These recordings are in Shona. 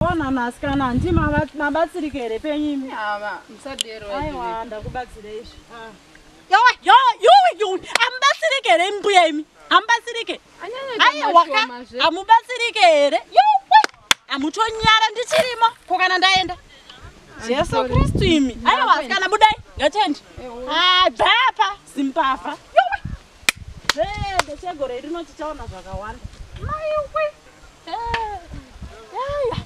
Ona nasikana ndi mabatsirike here penyu imi? Ava musadero. Aiwa ndakubatsira izvi. Ah. Yo yo yo yo amubatsirike here mbuya imi? Amubatsirike. Aiwa ka amubatsirike here? Yo amutonyara ndichirimo ko kana ndaenda. Jesu Kristu imi. Aiwa asikana budai. Ngatiende. Ah, bhapa simpapa. Yo. Hey, the chegore iri noti chaona zvakawanda. Mai we. Hey. Hey.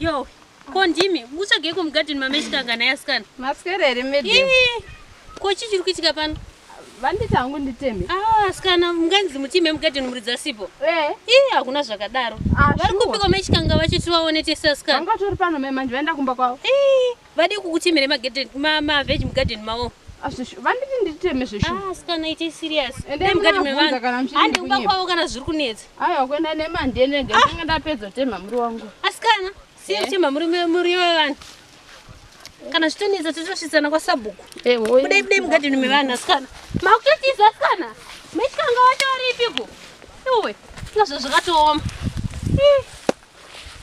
Yo, ko ndimi mukutsvagei kumugadheni mamechikangana yasikana? Maswera here madam? Ko chii chiri kuitika pano? Vanditi hangu nditeme. Ah, sikana munganzi mutime mugadheni muridzi asipo. Eh. Ii hakuna zvakadaro. Ah, Vari kupiko mechikanga vacho tivaone tese asikana. Vanga tori pano mai manje vaenda kumba kwavo. Ii. Vade kukutemere magarden ma ma veg mugarden mawo. Asisho vanditi nditeme zveshu. Ah sikana ite serious. Ende mugarden mevanhu. Hande kuba kwavo kana zviri kunetsa. Aiwa kuenda nemande nege ah. ndanga ndapedza tema muri wangu. Asikana siye eh. tema muri muri wevanhu. Kana zvitonetsa totosvitsana kwa sabhuku. Eh hoyi. Kudai kudai mugarden mevanhu asikana. Makutotiza asikana. Mechikanga watori piko. Iwe. Ndozvo zvakatooma. Eh.